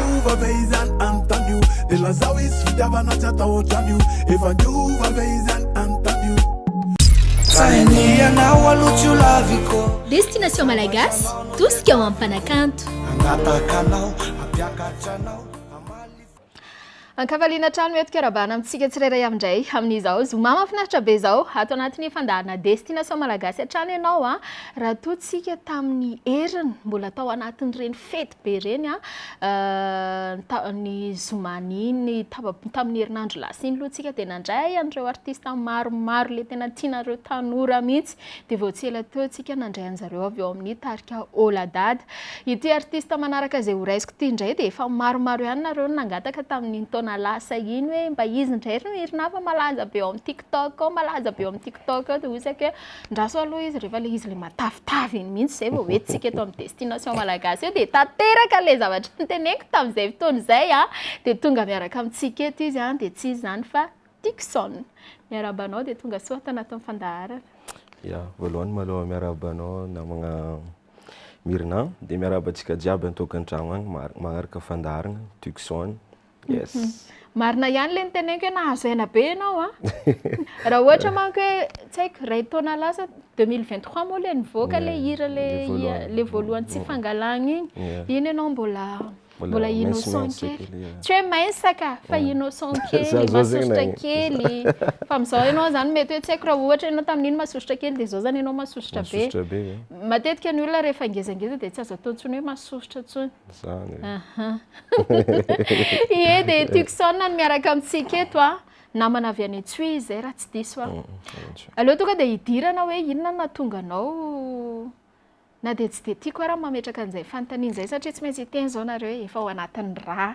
Miova ve izany anontany io Dia lazao hisy fitiavana tsy atao ohatrany io Efa niova ve izany anontany io Sahy ny ianao aloha tsy ho laviko Destination Malagasy, tosika ho am'mpanakanto. Hangataka anao, hampiakatra anao Ankavaliana hatrany mety fiarahabana amintsika tsirairay avy indray amin'izao zoma mahafinaritra be izao. Ato anatin'ny fandaharana Destination Malagasy hatrany ianao raha toa tsika tamin'ny heriny mbola tao anatin'ireny fety. be ireny an, ny zoma iny tamin'ny herinandro lasa iny aloha tsika dia nandray an'ireo artista maromaro le tena tianareo tanora mihitsy dia vao tsy ela teo tsika nandray anjareo avy ao amin'ny tarika oh la dada ity artista manaraka izay horaisiko ity indray dia efa maromaro ihany nareo nangataka tamin'iny taona lasa iny hoe mba izy indray ry no hirina fa malaza be ao amin'ny tiktok ao malaza be ao amin'ny tiktok ao dia hoy isika hoe Andraso aloha izy rehefa ilay izy ilay matavitavy iny mihitsy izay vao hoe tsika eto amin'ny destination malagasy eo dia tanteraka ilay zavatra noteneniko tamin'izay fotoana izay an, dia tonga miaraka amintsika eto izy an, dia tsy iza izany fa Dickson. Miarahaba anao dia tonga soa tanatin'ny fandaharana. Ya, voalohany maloha miarahaba anao namagna Mirina, dia miarahaba antsika jiaby an-tokantragno agny maharaka fandaharagna, Dickson, Yes. Mhm. Marina ihany ilay niteneniko hoe nahazo aina be ianao a. Raha ohatra manko hoe tsy haiko iray taona lasa 2023 moa ilay nivoaka ilay hira ilay voalohany tsy fangalagna iny. Iny ianao mbola mbola innocent kely. Tsy hoe maisaka fa innocent kely, masosotra kely. Fa amin'izao ianao zany mety hoe tsy haiko raha ohatra ianao tamin'iny masosotra kely dia izao zany ianao masosotra be. Matetika ny olona rehefa ngezangeza dia tsy azo atao intsony hoe masosotra intsony. Zany e. Ahaa. Ie dia Tucson no miaraka amintsika eto a. Namana avy any Antsohihy izay raha tsy diso aho. Aleo tonga dia hidirana hoe inona no nahatonga anao na dia tsy dia tiako ara ny mametraka an'izay fanontaniana izay satria tsy maintsy hiteny izao nareo e, efa ao anatin'ny rà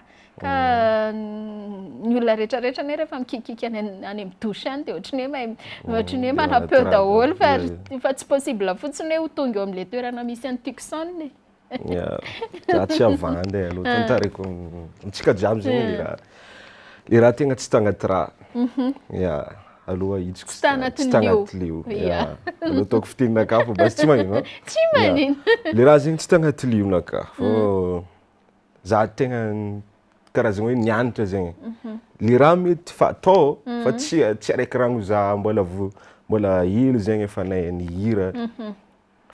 ka ny olona rehetrarehetra anie rehefa mikiakiaka any any amin'ny douche any dia ohatran'ny hoe mahay ohatran'ny hoe manam-peo daholo fa fa tsy possible fotsiny hoe ho tonga eo amin'ilay toerana misy an'i Tucson e. Za tsy havandy e, loatra ny tarehiko. Amintsika jiaby zegny le raha, le raha tegna tsy tagnaty raha. Ya, aloha ahitsiko tsy tagnaty lio. Ya, aloha ataoko fiteninakahy fa basy tsy magnino an. Tsy magnino. Le raha zegny tsy tagnaty lionakahy fô za tegna karazagna hoe nianatra zegny. Le raha mety fa atao fa tsy tsy araiky rano za mbola vo- mbola hely zegny efa nahay nihira.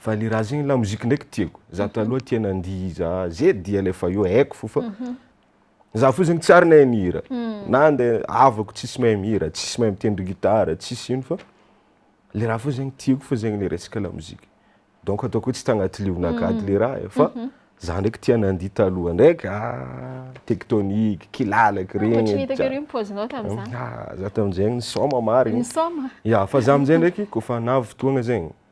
Vale Raha ny lamoziky ndraiky tiako. Za mhm. taloha tia nandihy za zed dia le fa io haiko fo fa mhm. za fotsiny tsy ary nahay mihira. Mhm. Na andeha havako tsisy mahay mihira, tsisy mahay mitendry gitara, tsisy ino fa le raha fo zegny tiako fa zegny le resaka lamoziky. Donc ataoko hoe tsy tagnaty lionakady le raha e. fa za ndraiky tia nandihy taloha ndraiky ah, tectonique, kilalaky regny. Ohatry ny hitako ery pozinao tamin'izany. Ah, za tamin'izegny nisôma marigny. Nisôma? Ya, fa za amin'izay ndraiky kaofa navy fotoagna zegny.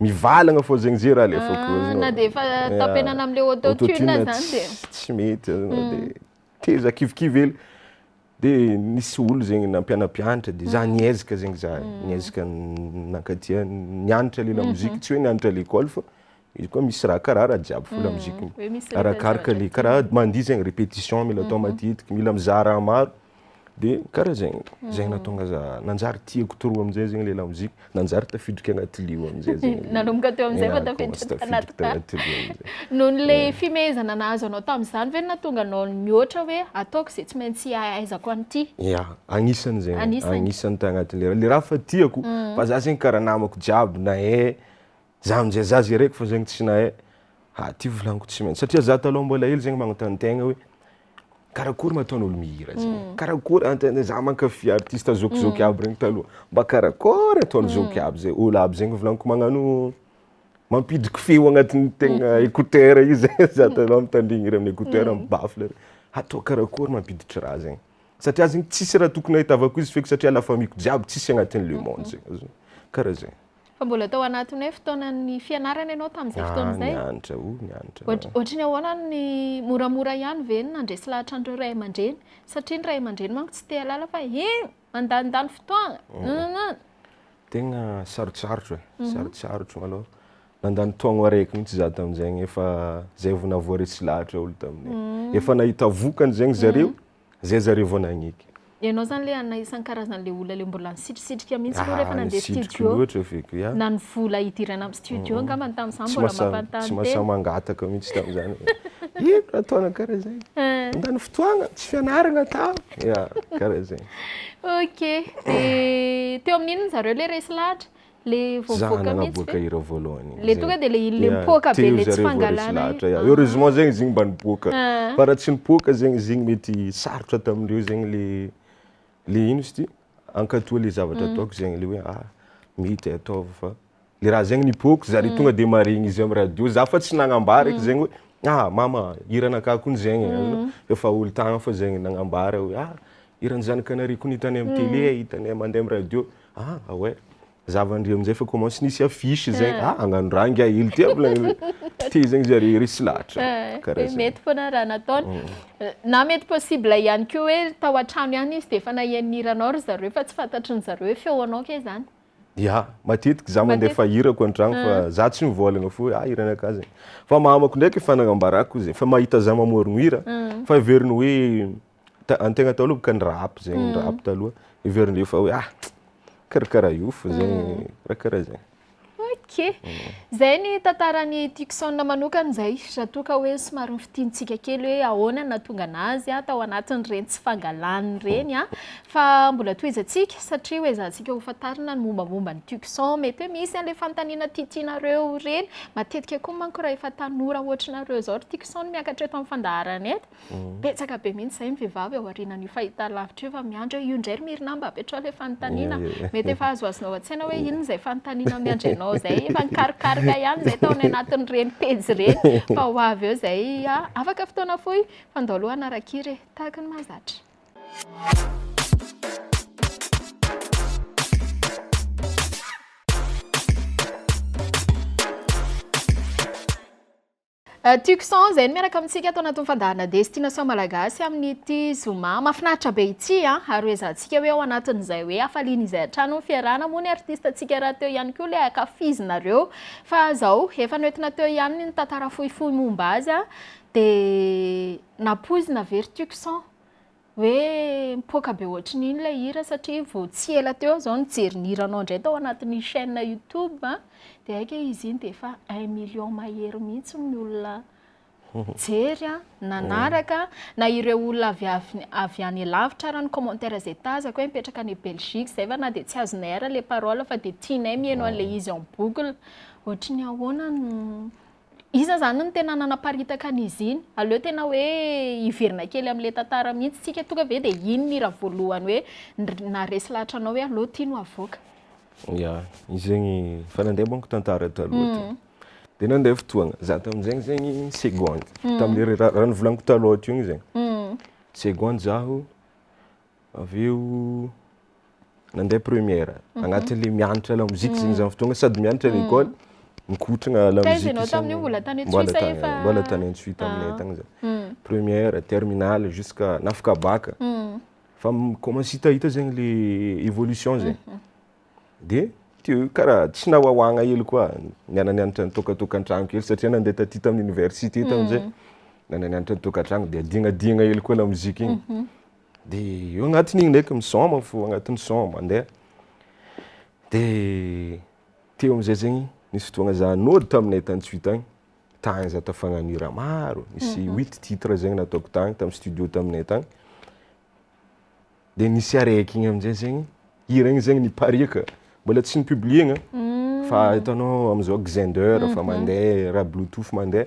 mivalagna fô zegny ze raha alefako ah, na dia efa tapenana amle autotune zany dia tsy mety azonao mm. dia teza kivikivy hely dia nisy olo zegny nampianampianatra dia za mm. niezaka zegny za mm. niezaka nankatia nianatra le lamozika mm-hmm. tsy hoe nianatra l'école fa izy koa misy raha karaha raha jiaby fo lamozika arakaraka le karaha mandia zegny répétition mila atao mm-hmm. matetiky mila mizaha raha maro Dia karaha zegny, zegny nahatonga za nanjary tiako trop amin'izay zegny ilay lamoziky, nanjary tafidiko anaty lio amin'izay zegny. Nanomboka teo amin'izay vao tafiditra tanaty tany. Noho le fimehezana nahazo anao tamin'izany ve no nahatonga anao nihoatra hoe ataoko izay tsy maintsy hahaizako an'ity? Ia, agnisany zegny, agnisany tagnatin'le raha, le raha efa tiako, fa za zegny karaha namako jiaby nahay, za amin'izay za zay raiky fao zegny tsy nahay, ha ty volagniko tsy maintsy, satria za taloha mbola hely zegny magnontany tegna hoe. Karakory ma ataon'olo mihira zay? Hmm. Karakory antena za mankafy artiste zokizoky hmm. aby regny taloha. Mba karakory ataon'ny hmm. zoky aby zay. Olo aby zegny volaniko magnano mampidiky feo agnatin'ny tegna écouteur io zay za taloha mitandrigny regny écouteur am baffle. Hatao karakory mampiditry raha zegny. Satria zegny tsisy raha tokony ahitavako izy feky satria la famille-ko jiaby tsisy agnatin'ny le monde zegny. Karaha zegny. Fa mbola tao anatin'ny hoe fotoanan'ny fianarana ianao tamin'izay fotoana izay? Ah, nianatra, oh, nianatra. Ohatry ny ahoana ny moramora ihany ve ny nandresy lahatra an'ireo ray aman-dreny? Satria ny ray aman-dreny manko tsy te halala fa he, mandanindany fotoana, nananana. Tegna sarotsarotra, mhm. sarotsarotra malao. Nandany taogno araiky mihitsy za tamin'izegny efa zay vao nahavoaresy lahatra olo taminay. Mhm. Efa nahita vokany zegny zareo, mhm. Zay zareo vao nagniky. Ianao zany le anona isankarazany le olona le mbola nisitrisitrika mihintsy anao rehefa nandeha studio na ny vola hidirana am studio angambany tamzany mbola mampanontany tena. Tsy mahasahy mangataka mihintsy tamzany hoe ino raha ataonao kara zegny mandany fotoagna tsy fianaragna atao ya kara zegny. Ok de teo amin'inona zareo le resy lahatra? Za nanaboaka ireo voalohany iny. Le tonga de le iny le mipoaka be le tsy fangalana iny. Heureusement zegny izy igny mba nipoaka. Fa raha tsy nipoaka zegny izy igny mety sarotra tamindreo zegny le le ino izy ty? Hankatoa le zavatra ataoko zegny le hoe ah mety ataovy fa le raha zegny nipoako zare tonga de maharegny izy am radio. Za fa tsy nagnambara eky zegny hoe ah mama hiranakahy kony zegny efa olon-tagny fa zegny nagnambara hoe ah hiran'ny zanakanareo kony hitanay am tele, hitanay mandeha am radio. Ah ah ouais. Za va ndry amin'izay fa comment sy nisy affiche zegny. Ah hagnano raha ngiahy ilo ty aby le te zegny zare i resy lahatra. Karaha zegny. Mety foana raha nataony. Na mety possible ihany koa hoe tao an-trano ihany izy dia efa naheno ny hiranao ry zareo fa tsy fantatry ny zareo hoe feonao kay izany. Ya, matetiky za mandefa hirako an-tragno fa za tsy mivôlagna fô hoe ah hiranakah zegny. Fa mamako ndraiky efa nagnambarako zegny fa mahita za mamôrogno hira fa heveriny hoe ta- ny tegna taloha bôka ny rap zegny, ny rap taloha. Heverin'ireo fa hoe ah karakaraha io fo zegny, raha karaha zay. Ok, zay ny tantaran'i Tucson manokana zay. Raha toa ka hoe somary nofintinintsika kely hoe ahoana ny nahatonga anazy a, tao anatin'ireny tsy fangalaniny ireny a. Fa mbola tohizantsika satria hoe ezahantsika ho fantarina ny mombamomba an'i Tucson. Mety hoe misy an'ilay fanontaniana tiatianareo ireny. Matetika koa manko raha efa tanora ohatranareo izao ry Tucson miakatra eto amin'ny fandaharana eto. Betsaka be mihitsy izay ny vehivavy ao aorianan'io fahitalavitra io efa miandry hoe io indray ry Mirina mba apetraho ilay fanontaniana. Mety efa azoazonao an-tsaina hoe inona izay fanontaniana miandry anao izay. Efa nikarokaroka ihany izay tao any anatin'ireny pejy ireny fa ho avy eo izay. Afaka fotoana fohy fa ndao aloha hanara-kira e. Tahaka ny mahazatra. Tucson izay no miaraka amintsika ato anatin'ny fandaharana Destination Malagasy amin'ity zoma mahafinaritra be ity. Ary hoezahantsika hoe ao anatin'izay hoe hafaliana izay hatrany ny fiarahana moa ny artistantsika rahateo ihany koa ilay ankafizinareo. Fa izao, efa noentina teo ihany ny tantara fohifohy momba azy dia nampoizina ve ry Tucson? hoe mipoaka be ohatry ny ino ilay hira satria vao tsy ela teo aho izao nijery ny hiranao indray tao anatin'ny chaîne YouTube dia hay ka izy iny dia efa un million mahery mihitsy ny olona nijery an, nanaraka na ireo olona avy avy avy any lavitra ary ny commentaire izay tazako hoe mipetraka any Belgique izay fa na dia tsy azonay ary ilay parole fa dia tianay mihaino an'ilay izy en boucle, ohatry ny ahoana no Iza zany no tena nanaparitaka an'izy iny? Aleo tena hoe hiverina kely amin'ilay tantara mihitsy isika, tonga ve dia iny ny hira voalohany hoe naharesy lahatra anao hoe allo ty no havoaka? Ya, izy zegny efa nandeha manko tantara taloha ty, dia nandeha fotoagna, za tamin'izegny zegny seconde, tamin'ilay raha novolaniko taloha teo igny zegny, seconde zaho Avy eo nandeha première agnatin'ny le mianatra la musique zegny za fotoagna sady mianatra à l'école mikotragna la Taiza musique ianao zany. tamin'io? Mbola tany Mbola Antsuisa tany efa- mbola tany Antsuis taminay Ah. tagny za Mm. première terminale jusqu'à nafaka baka Mm. fa mi-commence hitahita zegny le évolution zegny de teo karaha tsy nahoahoagna hely koa niara-nianatra nitôkatôkantragno kely satria nandeha taty tamin'ny université tamin'izay niara-nianatra nitôkantragno de adignadiagna hely koa la musique igny Dia eo agnatin'igny ndraiky misaoma fo agnatin'ny saoma mandeha. Dia teo am'zay zegny nisy fotoagna za nody taminay tany Tsuy tagny, tagny za tafagnano hira maro, nisy huit titres zegny nataoko tagny tam'studio taminay tagny. Dia nisy araiky igny am'zay zegny, hira igny zegny nipariaka, mbola tsy ni-publier-gna fa hitanao am'zao Xender efa mandeha, raha bluetooth mandeha,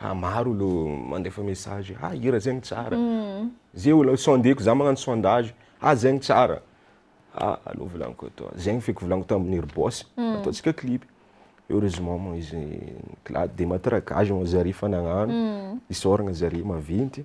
Ah maro lo mandefa message ah hira zegny tsara ze olo sondeko za magnano sondage ah zegny tsara ah allo volagniko etoa zegny feky volagniko tamin'ny ry boss ataontsika clip heureusement moa izy ni- de matraquage moa zare fa nagnano isaoragna zare maventy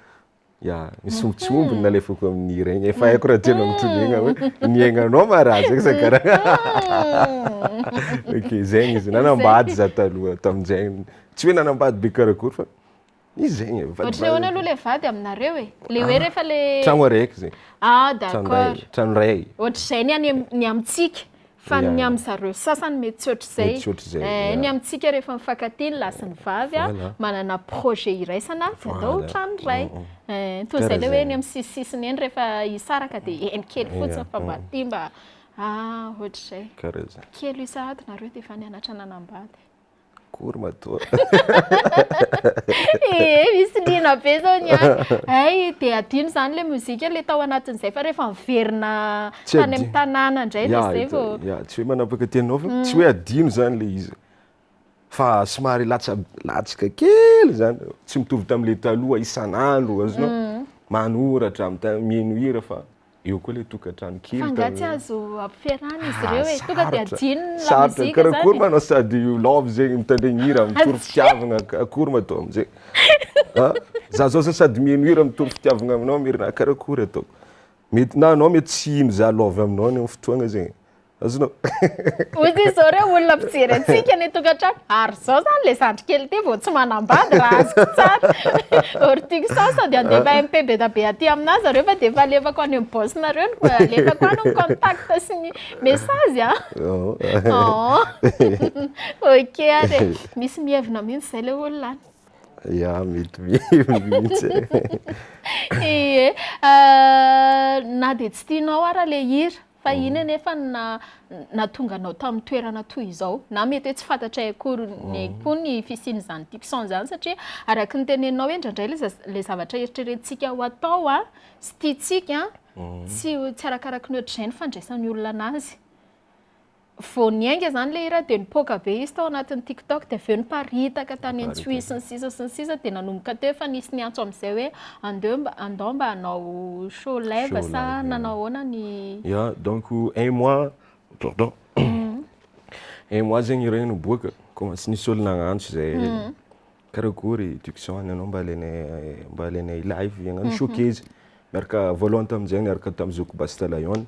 Ya, misy omby tsy omby ny nalefako amin'ny regny. Efa haiko raha tianao mitondregna hoe ny aignanao ma raha zegny sa karaha. Ok, zegny izy. Nanambady za taloha tamin'izegny. Tsy hoe nanambady be karakory fa izy zegny. Ohatry ny ahoana aloha le vady aminareo e? Le hoe rehefa le. Tragno araiky zegny. Ah, d'accord. Tragno ray. Ohatr'izay ny any ny amintsika. Fa ny amin'ny zareo sasany mety tsy ohatr'izay. Eh, ny amintsika rehefa mifankatia ny lahy sy ny vavy an, manana projet iraisana avy handao trano iray. Eh, toa izay ilay hoe ny amin'ny sisisisiny eny rehefa hisaraka dia eny kely fotsiny fa mba aty mba, ah, ohatr'izay. Kely io sahady nareo dia efa nianatra nanambady. Akory matoa. Ee, misy liana be izao ny ahy. Hay dia adino izany ilay mozika ilay tao anatin'izay fa rehefa miverina tany amin'ny tanàna indray dia izay vao. Ya, tsy hoe manapaka tena ao fa mm. tsy hoe adino izany ilay izy. Fa somary latsaka kely izany, tsy mitovy tamin'ilay taloha isan'andro, azonao mm. manoratra, mino hira fa Eo koa ilay tokantrano kely. Fa nga tsy azo ampiferana izy ireo e. Tonga dia adino ny lamozika zany. Sarotra. Akory manao sady love zegny mitandregny hira mitory fitiavagna akory ma atao amizay. A! Za zao zany sady miheno hira mitory fitiavagna aminao Merina karakory ataoko. Mety na anao mety tsy hino za love aminao any am fotoagna zegny. Azonao. Hoy izy zao reo olona mpijery antsika any an-tokantrano, ary zao zany le zandry kely ty vao tsy manambady raha azoko tsara. Ortix sao sao dia handefa MP be da be aty aminà zareo fa dia efa alefako any amin'ny boss nareo ny alefako any ny contact sy ny message a. Ok ary e. Misy mihevina mihitsy zay le olona any. Ya mety mihevina mihitsy e. Ie. Na dia tsy tianao ara le hira. Fa inn anefa no na natonga anao tamin'ny toerana toy izao? Na mety hoe tsy fantatray akory ny koa ny fisian'izany tics-on izany satria araka ny teneninao hoe indraindray ilay za- ilay zavatra eritreretintsika ho atao a, sy tiantsika a, tsy tsy arakaraky ny ohatr'izay ny fandraisan'ny olona anazy. Vao niainga izany ilay hira dia nipoaka be izy tao anatin'ny TikTok dia avy eo niparitaka tany amin'ny Twitter sy ny sisa sy ny sisa dia nanomboka teo efa nisy niantso amin'izay hoe andeo mba andao mba hanao show live sa nanao ahoana ny Ya, donc un mois, pardon, un mois zegny hira io niboaka, commence nisy olo nagnantso izay hoe karakory Tucson anao mba alainay mba alainay live hagnano showcase miaraka voalohany tamin'izay niaraka tamin'ny zokiko Basta Lion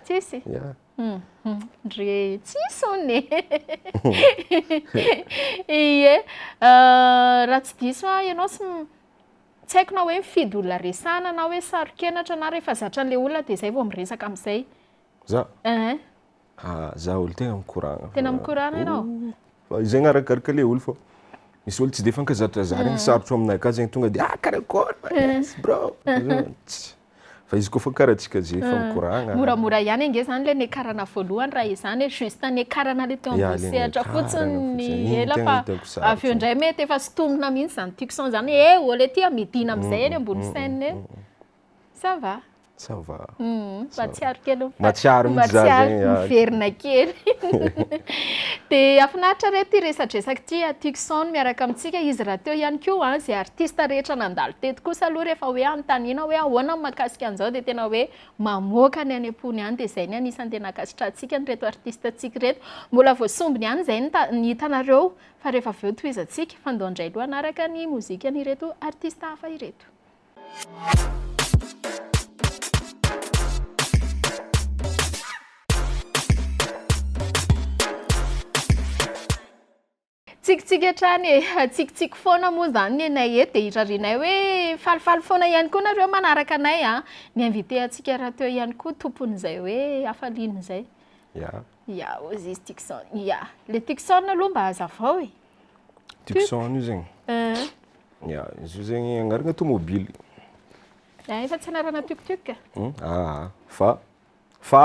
Tsisy? Yeah. Ndry tsisy hono e. Ie. Raha tsy diso aho ianao tsy m- tsy haiko na hoe mifidy olona resahana na hoe saro-kenatra na rehefa zatra an'ilay olona dia izay vao miresaka amin'izay. Za? Ehe. Ah, za olo tena mikoragna. Tena mikoragna ianao? Fa zegny arakaraka le olo fô misy olo tsy de fankazatra za regny, sarotro aminay ka zegny tonga de ah karakory ma yes bro. Tsy. Fa izy koa fa karatsika zay fa mikoragna. Moramora ihany ange zany le niakarana voalohany raha izany e, juste niakarana le teo ambony sehatra fotsiny ny ela fa avy eo indray mety efa sintomina mihitsy zany tucson zany e, eo le tia midina amizay eny ambony chaine eny. Ça va. Ça va. Mahatsiaro kely ny Mahatsiaro mihitsy za zegny. Mahatsiaro miverina kely. Dia hafinaritra re ity resadresaka ity a tucson. Sound miaraka amintsika izy rahateo ihany koa an! Izay artista rehetra nandalo teto kosa aloha rehefa hoe anontaniana hoe ahoana ny mahakasika an'izao dia tena hoe mamoaka ny any am-pony any dia izay ny anisan'ny tena ankasitrahantsika an'ireto artista antsika ireto. Mbola vao sombiny ihany izay ny ny hitanareo fa rehefa avy eo tohizantsika fa ndao indray aloha hanaraka ny mozikan'ireto artista hafa ireto. Tsikitsiky hatrany e! Tsikitsiky foana moa izany ny anay eto dia irarianay hoe falifaly foana ihany koa nareo manaraka anay an! Ny invité antsika rahateo ihany koa tompon'izay hoe hafaliana izay. Ya. Ya, hoy izy Tucson. Ya. Ilay Tucson aloha mba hazavao e! Tucson io zegny. Eh. Ya, izy io zegny agnarana tomobily. Ya, efa tsy anarana tuk-tuk. Aa, fa, fa,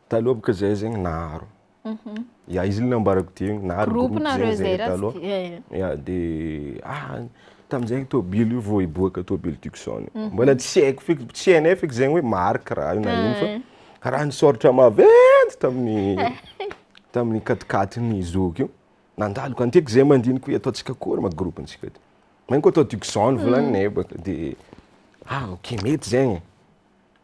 taloha bôka zahay zegny naharo. Mhm. Ya izy ilay nambarako dia iny, nahary Groupe groupe nareo zegny zay zay raha taloha. tsy- eh, eh. Ya dia ah tamin'izay ny tôbily io vao hiboaka tôbily Tucson. Mhm. Mbola tsy haiko feky, tsy hainay feky zegny hoe marque raha io na ino fa Eh. karaha nisôratra maventy tamin'ny tamin'ny katikatin'ny zoky io. Nandalo ka nitety zay aman-diniko hoe ataontsika akory ma groupe ntsika ty. Maninko atao Tucson volagninay baka dia ah ok mety zegny e.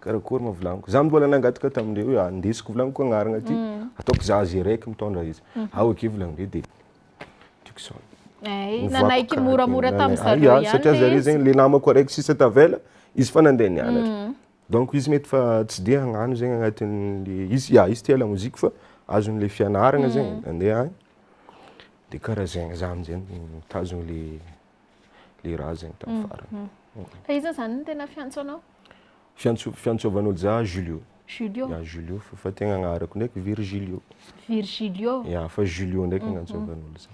Karakory ma vilaniko. Za mbola nangataka tamin'ireo hoe ah, ndesiko vilaniko agnaragna ty, ataoko za azy raiky mitondra izy. Ah ok vilagnindreo dia tiako izao. Ay, Ovako nanaiky karakory. moramora tamin'ny Nanaiky. zareo Ia, ihany satria le zareo izy. zegny le namako araiky sisa tavela, izy fa nandeha nianatra. Donc izy mety fa tsy dia hagnano zegny agnatin'le, izy ia izy tia lamozika fa azon'le fianaragna zegny, nandeha agny, de karaha zegny za am'zay mitazogno le. le razany tam farany. Fa iza zany ny tena fiantso anao? Fiantso fiantsovan'olo za Julio. Julio. Ya Julio fa tegna agnarako ndraiky Virgilio. Virgilio. Ya fa Julio ndraiky no antsovan'olo za.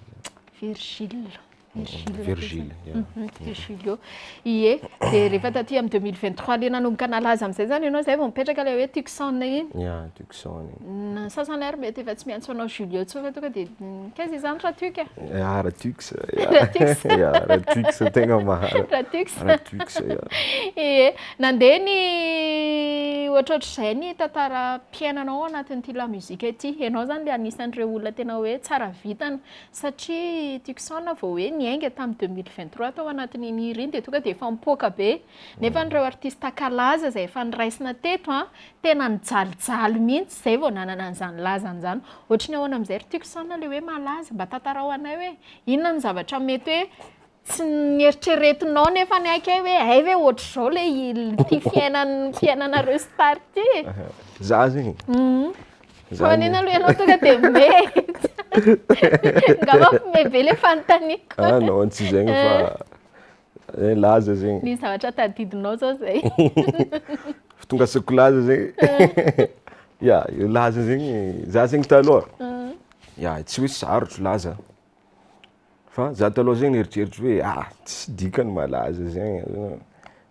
Virgile. Virgile. Virgile. Virgilio. Ie, dia rehefa taty amin'ny 2023 le nanomboka nalaza amin'izay zany ianao zay vao mipetraka le hoe Tucson iny? Ya Tucson. Ny sasany ary mety efa tsy miantso anao Julio intsony fa tonga dia nikaiza izany Ratux a? Ah, Ratux. Ratux. Ya, Ratux tegna maha. Ratux. Ratux, ya. Ie, nandeha ny ohatrohatr'izay ny tantaram-piainanao ao anatin'ity lamusique ity. Ianao izany ilay anisan'ireo olona tena hoe tsara vintana satria Tucson vao hoe niainga tamin'ny deux mille vingt trois tao anatin'iny hira iny dia tonga dia efa mipoaka be. Nefa ireo artista kalaza izay efa noraisina teto an, tena nijalijaly mihitsy izay vao nanana an'izany lazany izany. Ohatry ny ahoana amin'izay ry tiako isana ilay hoe malaza? Mba tantarao anay hoe inona no zavatra mety hoe tsy nieritreretinao nefa niaiky ahy hoe hay ve ohatr'izao ilay ity fiainan'ny fiainanareo star ity e? Za zegny? Hum. Fa maninona aloha ianao tonga dia mety? Angamba mpime be ilay fanontaniako. Ah non, tsy zegny fa Eh laza zegny. Misy zavatra tadidinao zao zay. Fa tonga asaiko laza zegny. Ya, io laza zegny, za zegny taloha, ya tsy hoe sarotro laza, fa za taloha zegny nieritreritro hoe ah tsisy dikany malaza zegny,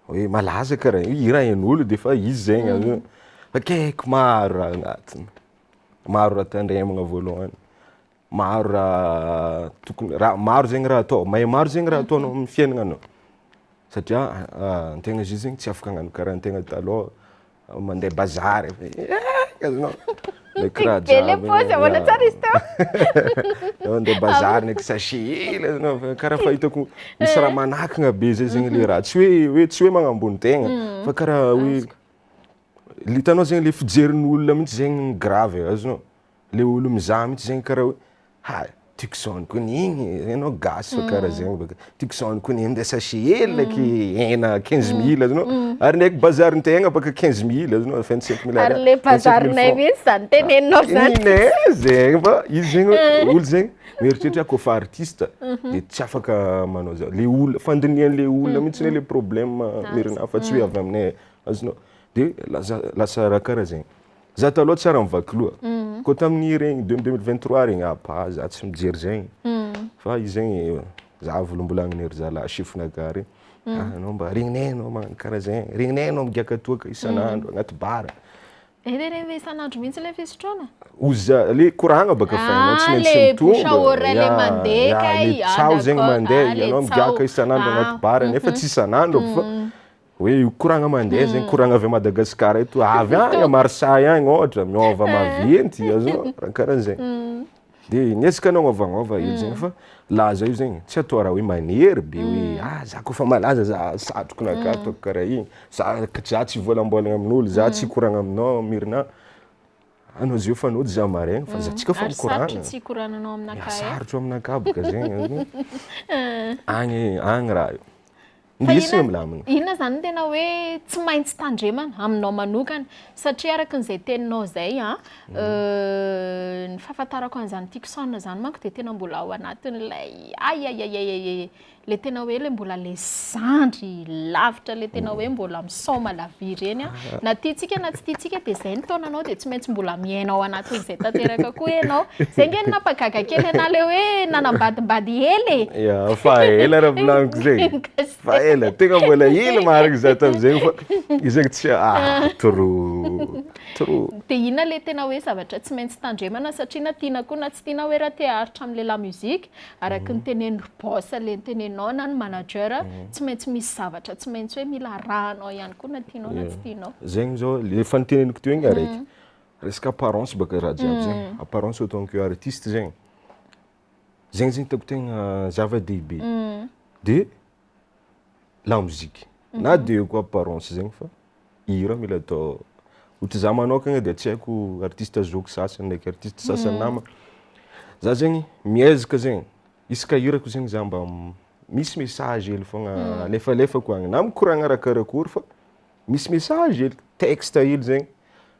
hoe malaza karaha io, hirahin'olo de fa izy zegny avy eo, fa akaiky maro raha agnatiny, maro raha tandremagna voalohany. maro raha tokony raha maro zegny raha atao may maro zegny raha ataonao amin'ny fiainagna anao satria antegna zio zegny tsy afaka hagnano karaha antegna talôha mandeha bazary eh azonao karaha jiaby mandeha bazary ndraiky sachet hely azonao fa karaha fahitako misy raha manakagna be zay zegny le raha tsy hoe hoe tsy hoe magnambony tegna fa karaha hoe le hitanao zegny le fijerin'olona mihitsy zegny gravy e azonao. Le olo mizaha mitsy zegny kara hoe ha tiako zao ko ny igny enao gasy fa kara zegny baka tiako zao ko ny minday sachet hely aky hena quinze mille azonao ary ndraiky bazary tegna baka quinze mille azonao vingt cinq mille ariary ary le bazarinay mintsy zany teneninao zany iny e zegny fa izy zegny hoe olo zegny mieritreritra ko fa artiste de tsy afaka manao zany le olo fandinihany le olo mitsy le problème merina fa tsy hoe avy aminay azonao de lasa lasa raha kara zegny. Za taloha tsy ary mivaky loha. Koa tamin'ny regny deux mille vingt trois regny ah bah za tsy mijery zegny. Fa izy zegny za volombolagniny ry zalahy chef-na gare hoe ah anao mba regninay anao magnano karaha zegny, regninay anao migiaka toaka isan'andro agnaty bar. Eh le regny le isan'andro mihitsy le fisotroana? Oza, le koragna baka fa ianao tsy maintsy mitombo. Ah le bouche à oreille le mandeha kay, ah d'accord, ah le tsaho. Ianao migiaka isan'andro agnaty bar nefa tsy isan'andro aby fa. Hoe io koragna mandeha zegny, koragna avy à Madagasikara eto, avy agny à Marseille agny ôhatra, miôva maventy, azoo, raha karaha zegny. Hmm. Dia ny ezaka nagnôvagnôva hely zegny hmm. fa laza io zegny, tsy atao raha hoe manery be hoe hmm. ah za koa fa malaza za satroko na ka ataoko karaha igny, za za tsy voalambôlagna amin'olo, za tsy koragna aminao Mirna, anao zio fa anao tsy za maregny fa za tsika fa mikoragna. Ary sarotro tsy koragnanao aminakahy. Sarotro aminakahy boka zegny, agny agny raha io. Indrisy no milamina. Inona izany no tena hoe tsy maintsy tandremana aminao manokana? Satria araka an'izay teninao izay, mhm. euh, ny fahafantarako an'izany Tucson izany manko dia tena mbola ao anatin'ilay ayayayayay le tena hoe le mbola le zandry lavitra le tena hoe mbola Sao malavia ireny an! Na tiantsika na tsy tiantsika dia izay ny taonanao dia tsy maintsy mbola miaina ao anatin'izay tanteraka koa ianao. Izay ange no nampagaga kely anah ilay hoe nanambadimbady ela e! Ya, fa ela raha volaniko izay. Fa ela, tegna mbola ela marigny za tamin'izegny fa izegny tsy ah trop, trop. Dia inona ilay tena hoe zavatra tsy maintsy tandremana satria na tiana koa na tsy tiana hoe raha te haharitra amin'ny la music Araky ny tenen'i ry boss le nitenenao na ny manager tsy maintsy misy zavatra tsy maintsy hoe mila arahanao ihany koa na tianao na tsy tianao. Zegny zao le efa niteneniko teo igny araiky. Resaka apparence baka raha jiaby zegny. Apparence autant que artiste zegny. Zegny zegny hitako tegna zava-dehibe. De la musique na de eo koa apparence zegny fa hira mila atao ohatry za manokagna de tsy haiko artiste zoky sasany ndraiky artiste sasany nama za zegny miezaka zegny isaka hirako zegny za mba misy message hely fogna alefalefako agny na mikoragna arakarakory fa misy message hely texte hely zegny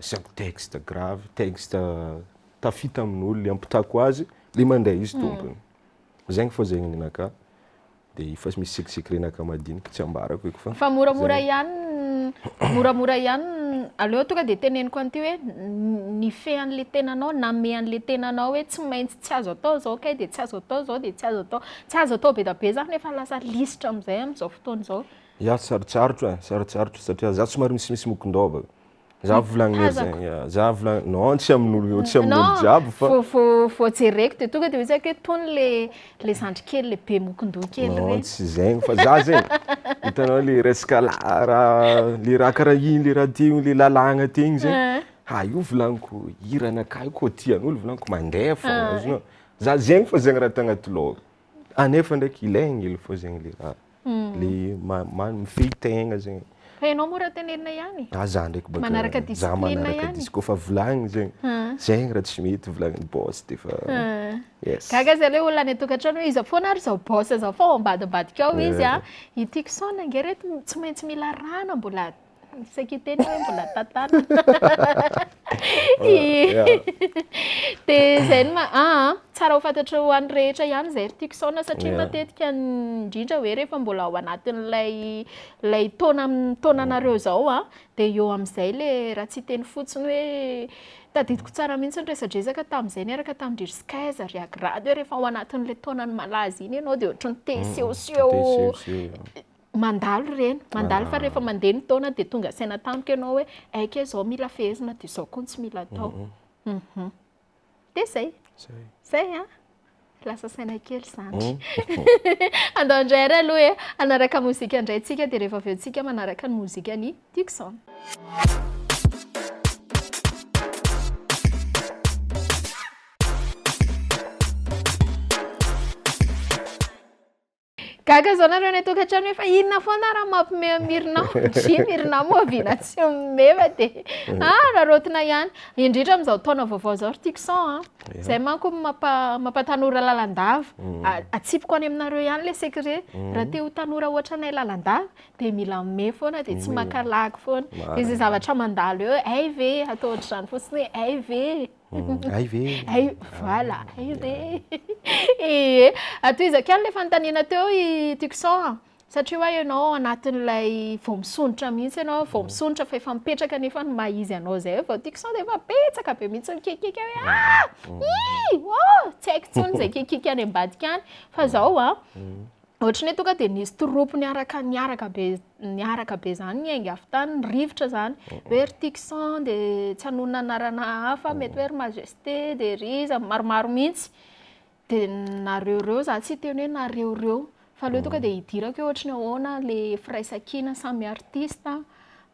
Asiako texte grave, texte tafita amin'olo le ampitako azy, le mandray izy tompony. Zegny fô zegny ninakà, de efa misy sec secret-nakà madiniky tsy ambarako eky fa. Fa moramora ihany, moramora ihany, aleo tonga de teneniko an'ity hoe nifehy an'le tenanao, namehy an'le tenanao hoe tsy maintsy tsy azo atao zao kay de tsy azo atao zao de tsy azo atao, tsy azo atao be da be zany efa lasa lisitra am'zay am'zao fotoana zao. Izaho tsy sarotsarotra eh, sarotsarotra satria izaho somary misimisy mokon-dôba. Izaho volagny ery Tazako. zegny, izaho volagny, non tsy amin'olo, tsy amin'olo Non, jiaby fa. vao vao vao jereko dia tonga dia hoe tsaiky hoe tony le le zandry kely le be mokon-doha kely Non ireny. tsy zegny fa izaho zegny, hitanao le resaka la- raha, le raha karaha igny, le raha teo, le lalàgna teo igny zegny, ha io volagniko hiranakahy koa tian'olo volagniko mandeha fôgna, azonao? Izaho zegny fô zegny raha tagnaty lôhako. Ah nefa ndraiky ilay angely fô zegny le raha. Le ma- ma- mifehy tegna zegny. Fa ianao moa raha tenenina ihany e. Ah za ndraiky bôka Manaraka za discipline manaraka ihany. dis- kaofa volagniny zegny, Ah. zegny raha tsy mety volagnin'ny boss de fa Ah. yes. Gaga za le olona any an-tokantrano hoe iza foana ary zao boss zao fa ao ambadimbadika ao izy a, ity kisaonana ange reto tsy maintsy mila rano a, mbola Tsy kiteny hoe mbola tantana. Dia izay no ma- ah, ah. tsara ho fantatrao ho an'ny rehetra ihany izay ry tiako saona satria Yeah. matetika ny- indrindra hoe rehefa mbola ao anatin'ilay ilay taona amin'ny taonanareo izao a, dia eo amin'izay ilay raha tsy hiteny fotsiny hoe tadidiko tsara mihitsy ny resadresaka tamin'izay niaraka tamin-dry Rizkaiza, ry Agrad hoe rehefa ao anatin'ilay taonan'ny malaza iny ianao dia ohatran'ny te hisehoseho Te hisehoseho. Mandalo ireny, mandalo fa rehefa mandeha ny taona dia tonga saina tampoka ianao hoe aika izao mila fehezina dia izao koa no tsy mila atao. Mhm. Dia izay. Izay. Izay an! Lasa saina kely izany. Andao indray ary aloha e, hanaraka mozika indray tsika dia rehefa avy eo tsika manaraka ny mozikan'i Tucson. Gaga zao nareo any atokatrano efa inona foana raha mampime mirinao ndry mirinao moa vina tsy mime fa de mm. ah rarotina ihany indrindra amin'izao taona vaovao zao ry tixon a ah. zay manko mampa mampatanora lalandava mm. atsipiko any aminareo ihany le secret mm. raha te ho tanora ohatranay lalandava de mila mime foana de tsy makalagy foana de zay zavatra mandalo eo ay ve atao ohatr'izany fotsiny hoe ay ve Hay ve? Hay, voilà, hay ve? Ee, atohizako ihany ilay fanontaniana teo i Tucson a, satria hoa ianao ao anatin'ilay vao misondrotra mihitsy ianao, vao misondrotra fa efa mipetraka anefa ny maha izy anao izay, vao Tucson dia efa betsaka be mihitsy ny kiakiaka hoe ah! ii! oh! tsy haiko intsony izay kiakiaka any ambadika any, fa izao an, Ohatry ny hoe tonga dia nisy troupe niaraka niaraka be niaraka be izany ny ainga avy tany, ny rivotra izany. Oh, oh. Hoe ry Tixan dia tsy hanonona anarana hafa, oh. mety hoe ry Majesté dia ry iza, maromaro mihitsy. Dia nareoreo, za tsy hiteny hoe nareoreo. Fa aleo tonga dia hidirako hoe ohatry ny ahoana ilay firaisankina samy artista.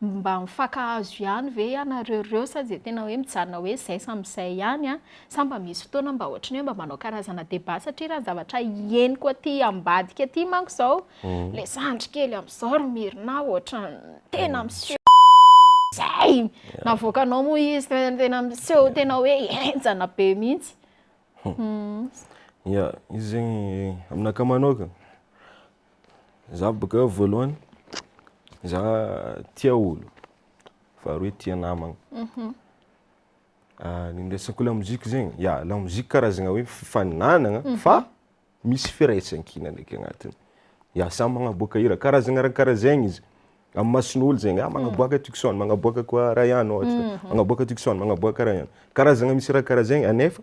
Mba mifankahazo ihany ve ianareo ireo sa dia tena hoe mijanona hoe izay samy izay ihany an? Sa mba misy fotoana mba ohatran'ny hoe mba manao karazana débat satria raha ny zavatra henoko aty ambadika aty manko izao ilay zandry kely amin'izao ry Myrna ohatran'ny tena miseho izay navoakanao moa izy tena miseho tena hoe henjana be mihitsy. Ia, izy zegny aminakahy manokana. Za boka eo voalohany za tia olo faharoa hoe tia namagna mhm. ah, ny miresako lamozika zegny ya lamozika karazagna hoe fifaninanagna mhm. fa misy firaisankina ndraiky agnatiny ya samy magnaboaka hira karazagna raha karaha zegny izy amin'ny mason'olo zegny ah magnaboaka mhm. tucson magnaboaka koa raha ihany ohatra magnaboaka tucson magnaboaka raha ihany karazagna misy raha karaha zegny anefa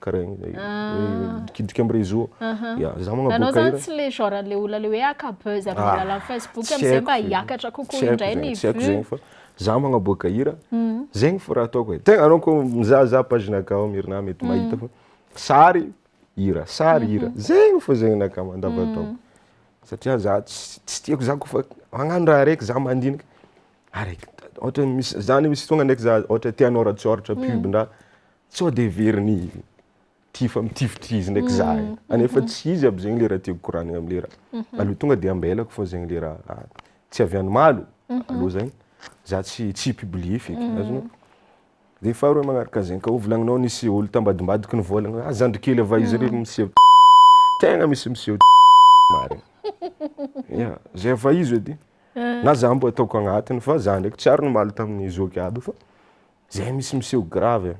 Karain, midikidika am réseau. Ya, za magnaboaka hira. Anao zany tsy le genre an'le olona le hoe haka buzz am alalan'ny facebook amzay mba hiakatra kokoa indray ny vue. Tsy haiko zegny fa za magnaboaka hira, zegny fo raha ataoko e. Tegna anao ko mizahazaha page naka ao am herinah mety mahita fa sary, hira, sary, hira, zegny fo zegny naka mandavantaogno. Satria za tsy tsy tiako za koa fa magnano raha araiky za mandinika araiky ohatra misy za misy fotoagna ndraiky za ohatra te hanôratsôratra pub-ndraha sao de heverin'i ty fa mitifitrizina eky za e, anefa tsy izy aby zegny le raha tiako koranigna am le raha, aleo tonga de ambelako fô zegny le raha tsy avy any malo aleo zany za tsy tsy hi-publier feky, azonao? De faharoe magnaraka zegny, ka hovolagninao nisy olo tambadimbadiky ny vôlagna hoe a zandry kely ava izy re miseho tegna misy miseho marigny, ia zay ava izy edy na za mbo ataoko agnatiny fa za ndraiky tsy ary nimaly tamin'ny zoky aby fa Zay misy miseho grave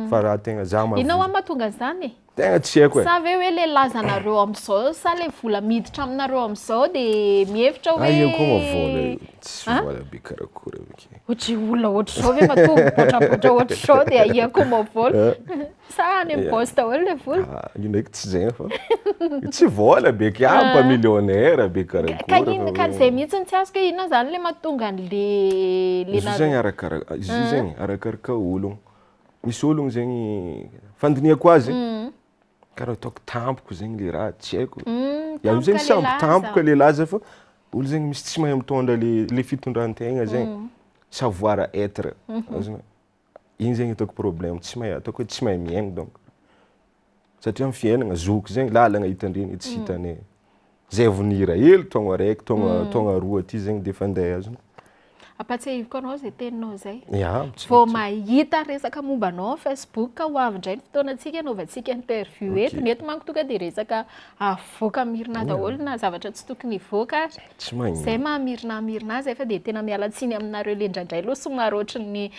fa raha tegna za ma. Inona hoa mahatonga an'izany e? Tegna tsy haiko e. Sa ve hoe le lazanareo amzao sa le vola miditra aminareo amzao de mihevitra hoe. Io koa ma vola io, tsy vola be karakory avake. Ohatry olona ohatrizao ve matoa mibotrabotra ohatrizao de ahia koa ma vola. Sa any amin'ny boss daholo ilay vola? Ah, io ndraiky tsy zay fa. Tsy vola be kay ah, mba millionnaire be karakory. Ka ino ka zay mihitsy tsy azoko inona zany ilay mahatonga an'le le Izy zegny arakaraka izy ah. zegny arakaraka ologno. Misy ologno zegny fandinihako azy mm. karaha ataoko tampoko zegny le raha tsy haiko. Mm, Iaho zegny sambo tampoka le laza fa olo zegny misy tsy mahay mitondra le le fitondran-tegna zegny. Mm. Savoir être. Mm-hmm. Iny zegny ataoko problème, tsy mahay ataoko hoe tsy mahay mihaino donc. Satria amin'ny fiainagna, zoky zegny, lalagna hitandrina io tsy mm. hitanay. Zay vao nihira hely taogno araiky, taogno mm. taogno roa aty zegny dia efa andeha azony. Ampatsahiviko anao zay teninao zay. Yeah, vao mahita resaka momba anao Facebook ka ho avy indray ny fotoana antsika anaovantsika interview eto. Ny eto manko tonga dia resaka avoaka mirina daholo na zavatra tsy tokony hivoaka ary. Tsy magnino. Zay maha Mirna Mirna azy fa dia tena miala tsiny aminareo le indraindray lo somary ohatran'ny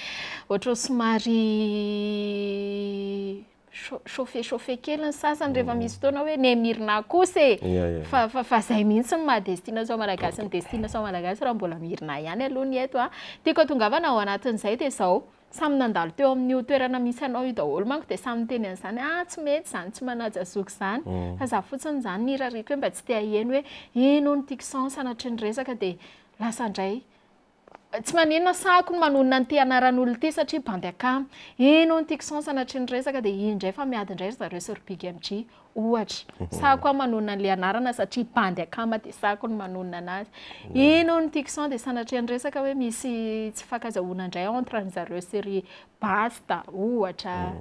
ohatran'ny somary chauffe chauffe kely ny sasany rehefa misy fotoana hoe ne Mirna kosa e fa fa zay mihitsy ny maha destination malagasy ny destination malagasy raha mbola Mirna ihany aloha ny eto a. Tiako atongavana ao anatin'izay dia zao. Samy nandalo teo amin'io toerana misy anao io daholo manko dia samy niteny an'izany ah tsy mety izany tsy manaja zoky izany mm. fa za fotsiny izany nirariako hoe mba tsy te haheno hoe eny ho ny tiako sans sanatria ny resaka dia lasa indray tsy maninona sahako ny manonona an'ity anaran'olona ity satria bandy akama eny ho ny tiako sans sanatria ny resaka dia indray fa miady indray ry zareo sy ry big mg Ohatra, sahako aho manonona an'ilay anarana satria bandy akama dia sahako ny manonona anazy. Ino ny tiako sao dia sanatria niresaka hoe misy tsy fankazahoana indray entre an'i zareo sy ry Basta, ohatra.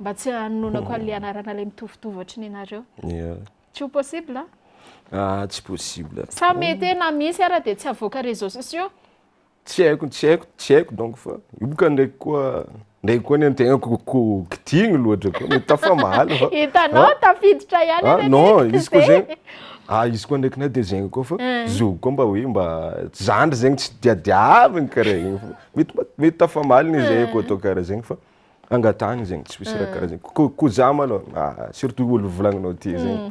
Mba tsy hanononako an'ilay anarana ilay mitovitovy ohatry ny anareo. Tsy ho possible an? Ah, tsy possible. Sa mety hoe na misy ara dia tsy avoaka réseaux sociaux? Tsy haiko, tsy haiko, tsy haiko donc fa io boka ndraiky koa ndraiky koa ny antegnako ko kitigny loatra koa mety tafamaly fa. Hitanao ah, tafiditra ihany ah, non izy koa zegny ah izy koa ndraiky na de zegny koa fa eh. zovy koa mba hoe mba zandry zegny tsy diadiaviny karaha igny fa mety mety tafamaly ny zay eh. koa atao karaha zegny fa angatahigny zegny tsy misy raha eh. karaha zegny ko ko za malôha ah, surtout olo volagninao ty zegny mm.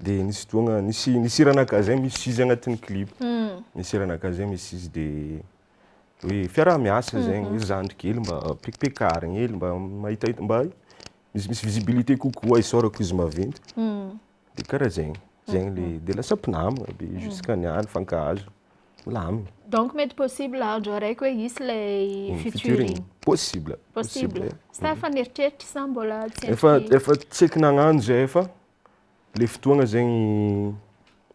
Dia nisy fotoana, nisy nisy hira naka zay misy izy agnatin'ny clip. Nisy hira naka zay misy izy dia hoe fiaraha-miasa zegny, hoe zandry kely mba pekipekarigny hely mba mahitahita mba misy misy visibilité kokoa isaorako izy maventy. Dia karaha zegny, zegny le, dia lasa mpinamagna be jusqu'à niany, nifankahazo, milamigny. Donc mety possible andro araiky hoe hisy ilay featuring? Possible, possible. Possible. Sa efa nieritreritra sa mbola tsy endriky? Efa efa tsaiky nagnano zay fa le fotoagna zegny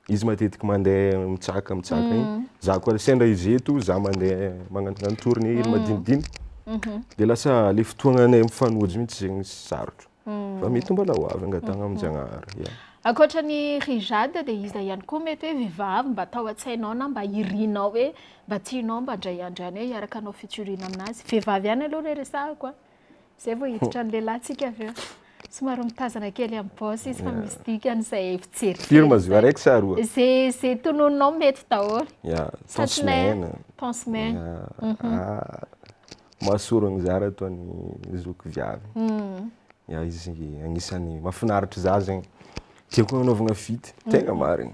izy matetiky mandeha mitsaka mitsaka igny, za koa sendra izy eto za mandeha magnanognano tournées hely madinidiniky, dia lasa le fotoagnanay mifanojo mihitsy zegny sarotro, fa mety ho mbola ho avy angatahana amin'Jagnahary. Ankoatra ny ry Jade dia iza ihany koa mety hoe vehivavy mba tao an-tsainao na mba irinao hoe mba tianao mba indray andro ihany hoe hiaraka hanao featuring aminazy? Vehivavy ihany aloha re resahako a! Zay vao hiditra ny lehilahy tsika avy eo. Somary mitazana kely amin'ny boss izy fa misy dikany izay fijery. Firy ma zio araiky sa roa? Zay zay tononinao mety daholo. Ya, ton semaine. Ton semaine. Mhm. Ah, mahasorogny za raha toa ny zoky viavy. Mhm. Ya, izy agnisan'ny mahafinaritra za zegny. Tiako hanaovagna feat, tegna marigny.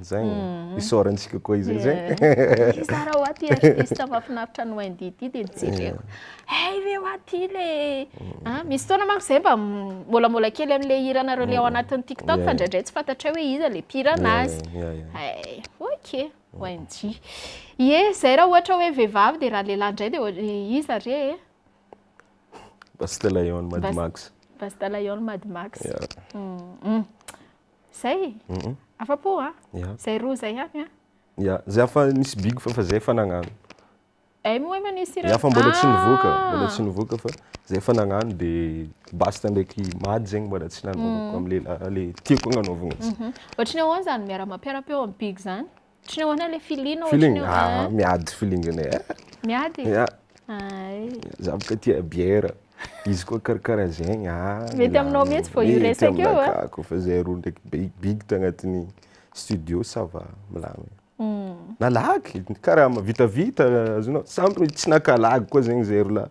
Zagny, mm. isaorantsika koa izay zay. Zara ho aty artiste mafinaritra ny Wendy ity dia nijereko. Hey, ve ho aty le. Mm. Ah, misy fotoana manko zay mba molamola kely amin'le hiranareo le ao mm. anatin'ny TikTok fa ndraindray tsy fantatray hoe iza le mpirana azy. Hey, ok, Wendy. Ye, zay raha ohatra hoe vehivavy dia raha lehilahy ndray dia iza re e? Basta Lion Mad Max. Basta Lion Mad Max. Yeah. Mm. Zay? Afa-po a? Zay roa zay ihany a? Ya, zay afa nisy big fa fa zay efa nagnano. Ay moa ma nisy iray. Ya fa mbola tsy nivoaka, ah! mbola tsy nivoaka fa zay efa nagnano de basta ndraiky mady zegny mbola tsy nanaovako mm. am' lehilahy le tiako agnanaovagna azy. Mhm. Ohatry ny ahoana zany miara-mampiara-peo am' big zany? Ohatran'ny ahoana ilay feeling ohatran'ny Feeling, ahoana? ah, Ah, miady feeling anay. Eh, Miady e? ya, Ay. za boka tia bière. Izy koa karakara zegny, ah. Mety milamina. aminao mihitsy vao io Mety resaka io, aminay ah. ka, Kaofa zay roa ndraiky big big tagnatin'ny studio ça va, milamina. Na lagy, karama, vitavita, azonao, sambany tsy naka lagy koa zegny zahay roa lahy.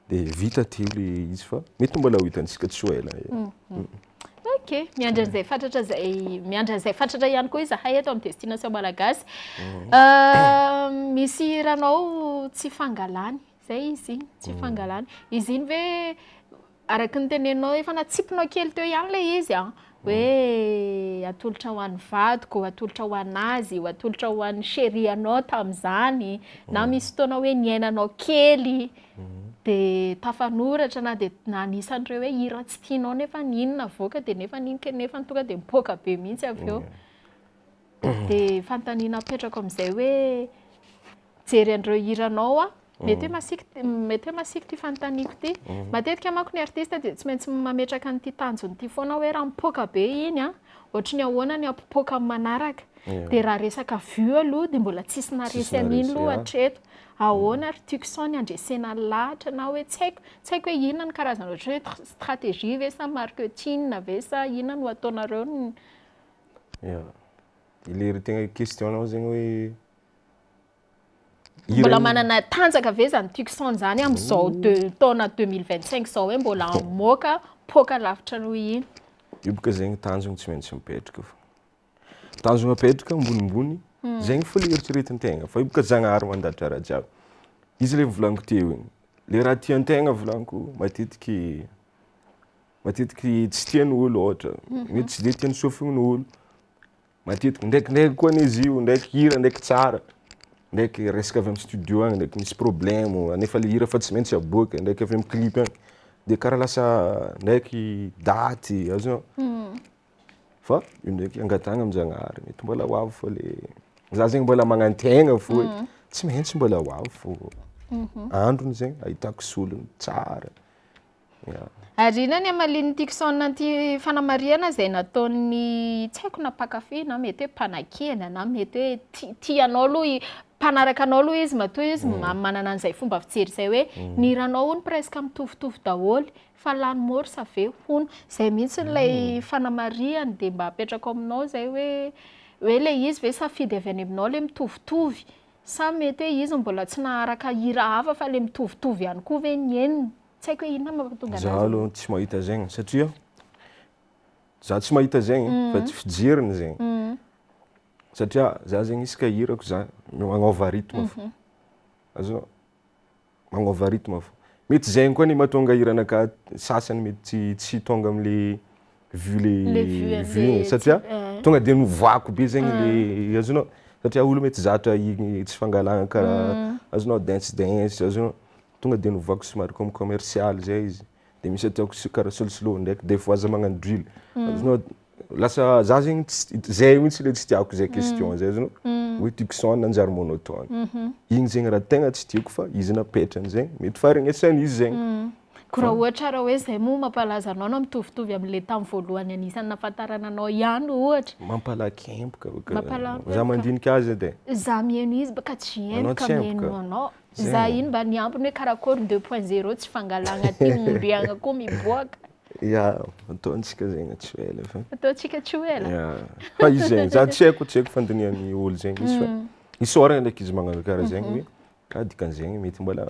Dia vita teo le izy fa mety mbola ho hitantsika tsy ho ela. Ok, miandry an'izay fatratra izay, miandry an'izay fatratra ihany koa izahay eto amin'ny Destination Malagasy. Misy hiranao tsy fangalany, izay izy iny, tsy fangalany. Izy iny ve, araka ny teneninao, efa natsipinao kely teo ihany ilay izy an? hoe atolotra ho an'ny vadiko, atolotra ho an'azy, ho atolotra ho an'ny chérie anao tamin'izany, na misy fotoana hoe niainanao kely dia tafanoratra na dia na anisan'ireo hoe hira tsy tianao nefa iny navoaka dia nefa iny nefa tonga dia mipoaka be mihitsy avy eo. dia fanontaniana apetrako amin'izay hoe mijery an'ireo hiranao aho, mety hoe masiaka mety hoe masiaka ity fanontaniako ity. Matetika manko ny artista dia tsy maintsy mametraka an'ity tanjony ity foana aho hoe raha mipoaka be iny an, ohatry ny ahoana ny hampipoaka amin'ny manaraka? Dia raha resaka vue aloha dia mbola tsisy naharesy an'iny aloha hatreto. Ahoana ry Tucson ny handresena ny lahatra na hoe tsy haiko, tsy haiko hoe inona ny karazana ohatry ny hoe stratégie ve sa marketing ve sa inona no ataonareo ny Ya. Ilay ry tegna question-nao zegny hoe Mbola manana tanjaka ve zany Tucson zany amin'izao deux- taona deux mille vingt cinq zao hoe mbola hamoaka poaka lavitra noho iny? Io boka zegny tanjogny tsy maintsy mipetraka fô. Tanjogna apetraka ambonimbony, zegny fô le eritreretin-tegna fa io boka Zagnahary mandatra raha jiaby. Izy le volaniko teo igny, le raha tian-tegna volaniko matetiky matetiky tsy tia ny olo ohatra mety tsy de tia ny sofiny ny olo matetiky ndraikindraiky koa anie izy io ndraiky hira ndraiky tsara ndraiky resaka avy amin'ny studio agny ndraiky misy problemo nefa le hira efa tsy maintsy aboaka ndraiky avy amin'ny clip agny de karaha lasa ndraiky daty azonao fa io ndraiky angatahagna amin-jagnahary mety mbola ho avy fa le za zegny mbola magnantena fo hoe tsy maintsy mbola ho avy fo androny zegny ahitako solony tsara Ary inona ny hamalian'i Tickson an'ity fanamarihana izay nataon'ny tsy haiko na mpankafy na mety hoe mpanakena na mety hoe ti- tia anao aloha i- mpanaraka anao aloha izy matoa izy mm. ma- manana an'izay fomba fijery izay hoe mm. ny hiranao hono presque mitovitovy daholo fa lany morse avy eo hono izay mihitsy ilay mm. fanamarihany dia mba apetrako aminao izay hoe hoe le izy ve safidy avy any aminao le mitovitovy sa mety hoe izy mbola tsy naharaka hira hafa fa le mitovitovy ihany koa ve ny henony Tsy haiko hoe inona no mampatonga an'azy. Za aloha tsy mahita zegny satria za tsy mahita zegny mm. fa tsy fijeriny zegny. Mm. Satria za zegny isaka hirako za magnova rythme fo. Mhm. Azonao? Magnova rythme fo. Mety zegny koa ny mahatonga hiranaka sasany mety tsy tonga amin'le vu le Le vue an'le vue e, satria tsy- eh. tonga dia novoako be zegny le azonao satria olo mety tsy zatra igny tsy fangalana karaha azonao dance dance azonao tonga dia novoako somary comme commercial zay izy de misy ataoko s- karaha solosoloy ndraiky des fois za magnano drill azonao lasa za zegny ts- it- zay mihitsy le tsy tiako zay question zay azonao hoe Tucson nanjary monotone igny zegny raha tegna tsy tiako fa izy napetrany zegny mety faharegnesan'izy zegny. Ko raha ohatra ara hoe zay moa mampalaza anao na mitovitovy amle tam voalohany anisany nafantarana anao ihany ohatra. Mampalakemboka Mampalakemboka Za mandinika azy edy e. Za mihaino izy ka tsy haino ka mihaino anao. Za iny mba ny ambiny hoe karakory deux point zero tsy fangalagna aty ombiagna ko miboaka. Ya ataontsika zegny tsy ho ela fa. Ataontsika tsy ho ela. Ya fa izy zegny za tsy haiko tsy haiko fandinihan'ny olo zegny izy fa isaoragna ndreky izy magnano kara zegny hoe Ka dikan'izegny mety mbola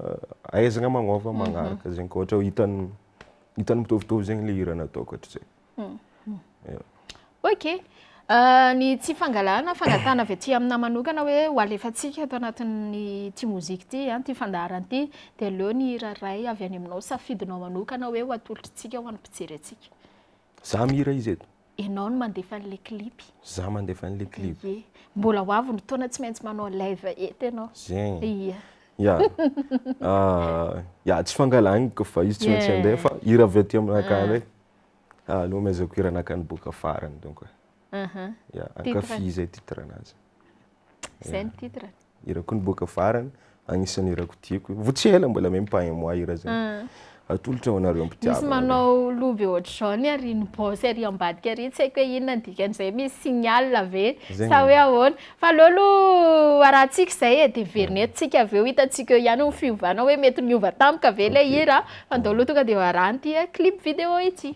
ahaizagna magnôva magnaraka zegny ka ôhatra hoe hitan'ny hitan'ny mitovitovy zegny le hira nataoko hatrizay. Ya. Ok, Ah, ny tsy fangalana, fangatahana avy aty aminà manokana hoe ho alefantsika ato anatin'ity mozika ity, an, ity fandaharana ity, dia aleo ny hira iray avy any aminao, safidinao manokana hoe ho atolotr'tsika ho an'ny mpijery antsika. Za mihira izy eto? Enao no mandefa an'le clip. Za mandefa an'le clip. Ye. Mbola ho avy ny taona tsy maintsy manao live eto enao. Zegny. Ia. Ya. Ya, tsy fangalagny kofa izy tsy maintsy andeha fa hira avy aty aminakany ndray nomezako hiranakany boka farany donc. Aha. Ya, ankafizo zay titre-nazy. Zay ny titre. Hirako niboaka farany, agnisan'ny hirako tiako. Vao tsy ela mbola même pas un mois hira zay. Ah. Atolotra ho anareo mpitiavana. Misy manao loha be ohatr'izao ny ary ny boss ary ambadika ary tsy haiko hoe inona ny dikan'izay misy signal ve sa hoe ahoana. Fa aleo aloha arahantsika izay e, dia heverina eto tsika avy eo, hitantsika eo ihany ny fiovana hoe mety niova tampoka ve ilay hira, fa ndao aloha tonga dia ho arahana ity clip vidéo ity.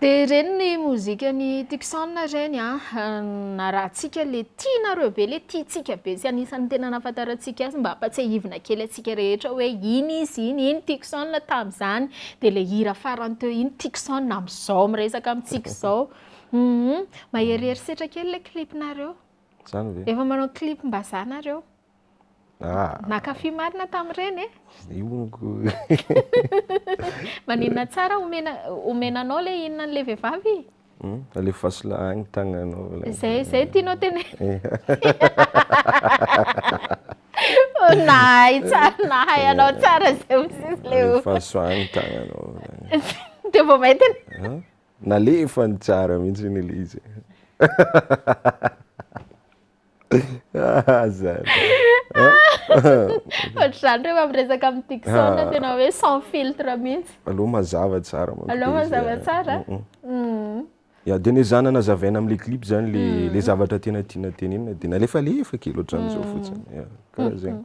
Dia ireny ny mozikan'i Tucson ireny an! Narahantsika ilay tianareo be, ilay tiantsika be sy anisan'ny tena nahafantarantsika azy mba hampatsiahivina kely antsika rehetra hoe iny izy iny, iny Tucson tamin'izany. Dia ilay hira farany teo iny Tucson amin'izao miresaka amintsika izao. Hum, maherihery setra kely ilay clip-nareo. Izany ve? Efa manao clip-mbazaha nareo. Ah. Nakafy marina tamin'ireny e. Ziongo. Maninona tsara omena omena anao le inona le vehivavy? Hmm? Alefaso lahy ny tagnanao. Zay zay tianao tena. Eh. Oh, nahay tsara nahay eh. anao tsara zay msisy le. Alefaso agny tagnanao. Dia vao maintina. Ah? Nalefa ny tsara mihitsy ny izy. Ohatr'izany rehefa miresaka amin'ny Dickson ah. tena hoe sans filtre mihitsy. Aleo mazava tsara manko. Aleo mazava tsara. Mm, mm. Mm. Ya dia ny zana nazavaina amin'ilay clip zany le le zavatra tena tiana tenenina dia nalefalefa kely ohatran'izao fotsiny. Ya, karaha zegny.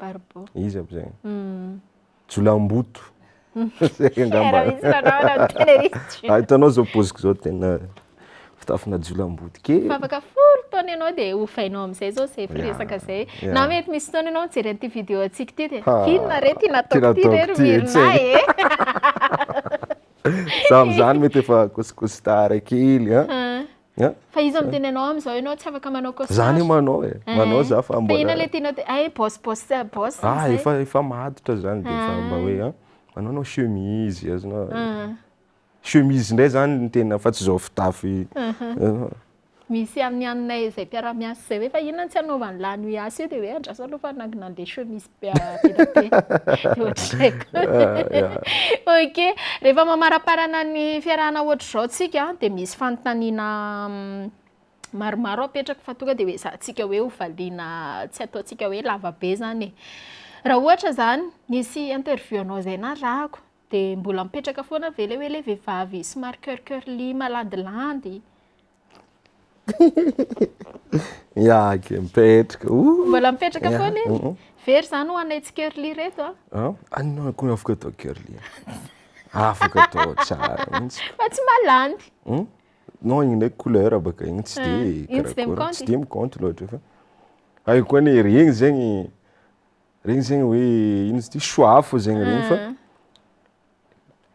Barbo. Iza aby zay? Jolamboto. Zay angamba. Misy manao anao ny tena izy tsy. Ah, hitanao zao poziko zao tena fitafina jolamboto kely. Fa afaka folo taona ianao dia hovainao amin'izay zao zay firesaka zay. Na mety misy fotoana ianao mijery an'ity vidéo antsika ity dia inona re ty nataoko ty re ry Mirina e. Za amin'izany mety efa kosikosi-tara kely an. Fa iza miteny anao am zao enao tsy afaka manao costard. Za anie manao e, manao za fa mbola. Fa inona le tianao atao eh boss boss boss zay. Ah efa efa maditra zany de efa mba hoe an manao anao chemise azonao. Chemise ndray zany no tena fa tsy zao fitafy. Misy any aminay zay mpiara-miasa zay hoe fa inona no tsy anaovan'lah an'io asa io de hoe andraso aloha fa nandeha chemise. ok rehefa mamaraparana ny fiarahana ohatr'izao tsika dia misy fanontaniana mm, maromaro apetraka fa tonga dia hoe zahantsika hoe hovaliana tsy ataontsika hoe lavabe zany e raha ohatra zany nisy interview anao izay narahako dia mbola mipetraka foana ve le hoe le vehivavy somary cœur cœur ly malandilandy Miaky, mipetraka. Ooh. Mbola mipetraka Yeah, foana iny. mhm. Very zany ho anay tsy curly ireto a. Ah, anona koa afaka atao curly. Afaka atao tsara mihitsy. Fa tsy malandy. Hmm? Non, igny ndraiky couleur baka igny tsy Ah, de igny tsy de karakôry, mikaonty. tsy de mikaonty loatra fa. Hay koa anie regny zegny regny zegny hoe ino izy ty choix fo zegny regny fa Ah.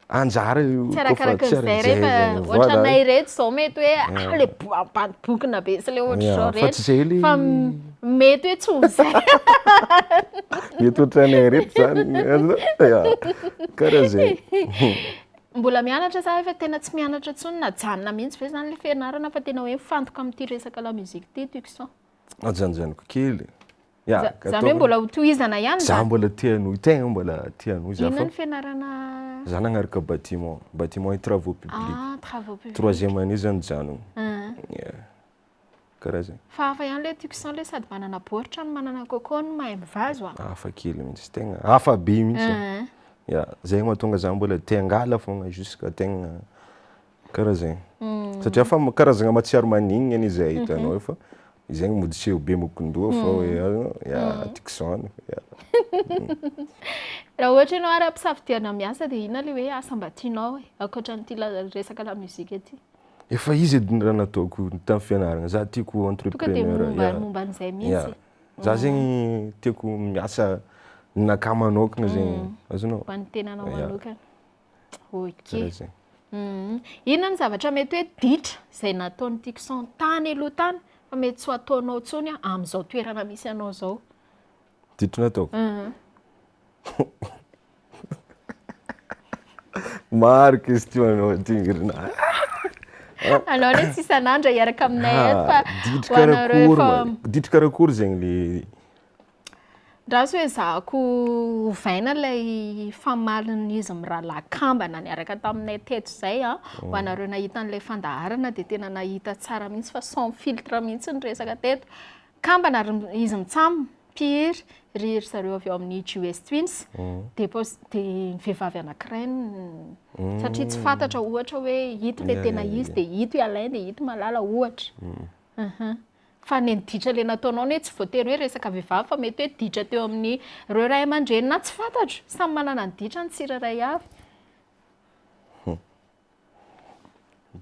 anjara io tsy arakaraka ny zay re fa ohatranay reto zao mety hoe ah, ah le boabadibokina be sy le ohatr'izao reto fa tsy zay le fa mety hoe tsy ho zay mety ohatranay reto zany karaha zay mbola mianatra sa efa tena tsy mianatra intsony na janona mihitsy ve zany le fianarana fa tena hoe mifantoka amin'ity resaka la musique ity tucson ajanjaniko kely Ya, Za- gâteau- Zany hoe mbola ho tohizana ihany Za zany. mbola te hanohy, tegna mbola te hanohy za Inona fa ny fianarana za nagnaraka bâtiment, bâtiment et travaux publics. ah, travaux publics. Troisième année za nijanogno. Ah. Ya. Karaha zay. Fa hafa ihany le tiako san le sady manana baoritra no manana coco no mahay mivazo ah. Hafa kely mihitsy, tegna hafa be mihitsy. Ah. Ya, zay mahatonga za mbola te hangala fogna jusqu'à tegna Karaha zegny. Satria fa karazagna matsiaro maningna anie zay ahitanao eo fa zegny mody tsy eo be mokon-doha fa hoe ya tiako izany. Raha ohatra ianao ary ampisafidianao miasa dia inona le hoe asa mba tianao e? Ankoatran'ity resaka lamozika ity. Efa izy edy ny raha nataoko tamin'ny fianaragna. Za tiako ho entrepreneur. Tonga dia momba an'izay mihitsy. Za zegny tiako miasa ninakà manokana zegny. Azonao? Ho an'ny tenanao manokana. Karaha zay. Inona no zavatra mety hoe ditra izay nataon'i Tixon tany aloha tany fa mety tsy ho ataonao intsony amin'izao toerana misy anao izao? Ditra nataoko? Maro question anao aty Ingrid a! Anao anie tsy isan'andro hiaraka aminay eto fa ho anareo efa. Ditra karakory zegny le. Andraso hoe ezahako ovaina ilay famalin'izy mirahalahy kambana niaraka taminay teto izay an. Ho anareo nahita an'ilay fandaharana dia tena nahita tsara mihitsy fa sans filtre mihitsy ny resaka teto. Kambana ry izy mitsam, mpihiry, ry ry zareo avy ao amin'ny GS Twins, dia pos- dia ny vehivavy anankiray no- satria tsy fantatra ohatra hoe ito ilay tena izy dia ito i Alain dia ito i Malala ohatra. Aha. Fa ny ditra le nataonao anie tsy voatery hoe resaka vehivavy fa mety hoe ditra teo amin'ny reo ray aman-dreny na tsy fantatro. Samy manana ny ditra ny tsirairay avy.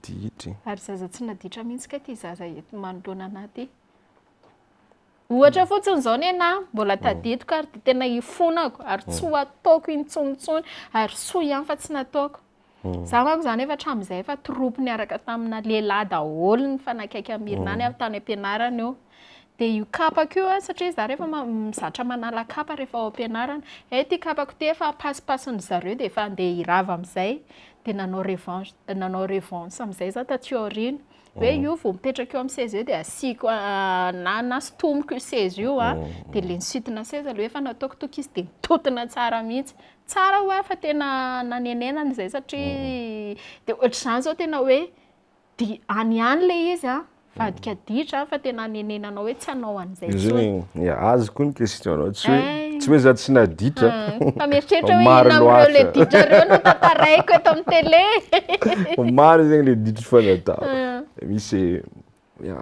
Ditra e. Ary zaza tsy naditra mihitsy kay ty zaza eto manoloana anah ty. Ohatra fotsiny izao nenahy, mbola tadidiko ary dia tena ifonako ary tsy ho ataoko intsonyintsony ary soa ihany fa tsy nataoko. Izaho manko izany efa hatramin'izay efa troupe niaraka tamina lehilahy daholo ny mifanakaiky amin'i Mirna any tany am-pianarana io. Dia io kapako io an, satria izaho rehefa ma- zatra manala kapa rehefa ao am-pianarana, hay ity kapako ity efa ampasipasin-dry zareo dia efa handeha hirava amin'izay, dia nanao revanche, nanao revanche amin'izay izaho taty aoriana. hoe io vao mipetraka eo amin'ny seza eo dia asiako na na sintomiko io seza io a dia ilay nisintona seza aloha efa nataoko toky izy dia nitontona tsara mihitsy tsara hoa fa tena nanenenana izay satria dia ohatr'izany izao tena hoe dia any ihany ilay izy a vadika ditra fa tena hanenenanao hoe tsy hanao an'izany Izay Zay tsony. zany e, azy koa ny question nao, tsy hoe Ay. tsy hoe za tsy naditra Fa mieritreritra hoe Maro inona amin'ireo loatra. le ditra ireo no tantaraiko eto amin'ny tele. Fa maro zegny le ditra efa natao. Ah. Misy ya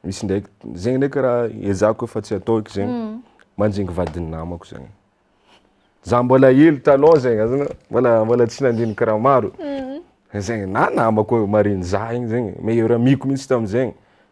misy ndraiky zegny ndraiky raha ezahako efa tsy atao eky zegny, manjingy vadin'ny namako zegny. Za mbola hely taloha zegny azonao, mbola mbola tsy nandinika raha maro zegny na namako marin'i za igny zegny, meilleur amiko mihitsy tam'zegny.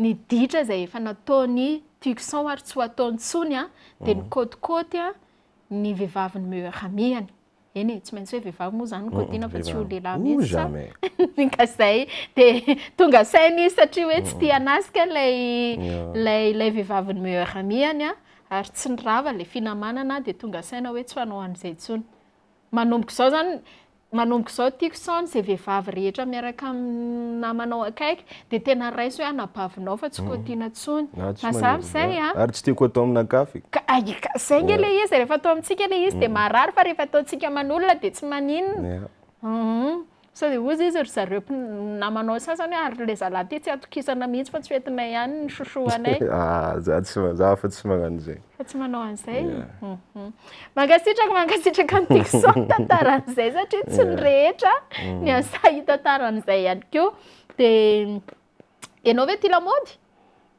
ny ditra izay efa nataon'i Tucson ary tsy ho ataony intsony dia nikaotikaoty ny vehivavin'ny meilleur amie-ny. Eny e, tsy maintsy hoe vehivavy moa izany no kaotiana fa tsy ho lehilahy mihitsy sa? Ny kazay dia tonga saina izy satria hoe tsy tia hanasika ilay ilay ilay vehivavin'ny meilleur amie-ny ary tsy ny rava ilay finamanana dia tonga saina hoe tsy ho hanao an'izay intsony. Manomboka izao izany, manomboka izao tiako sao an'izay vehivavy rehetra miaraka amin'ny namanao akaiky dia tena raiso hoe anabavinao fa tsy kotiana intsony. Ah, tsy Mazava manery izay izany. an? Ary tsy tiako atao aminà kafy. Ka, ay, ka, izay ange ilay izy, rehefa atao amintsika ilay izy dia marary fa rehefa ataontsika aman'olona dia tsy maninona. Hum. Sao dia hozy izy ry zareo namanao sasany hoe ary ilay zalahy ity tsy atokisana mihitsy fa tsy ho entinay ihany ny chouchou anay. Ah, za tsy ma- za fa tsy magnano zay. Fa tsy manao an'izay? Yeah. Mhm. Mankasitraka, mankasitraka an'i Dickson nitantara an'izay satria tsy ny rehetra ny an'i Sahy hitantara an'izay ihany koa. Dia ianao ve tia lamaody?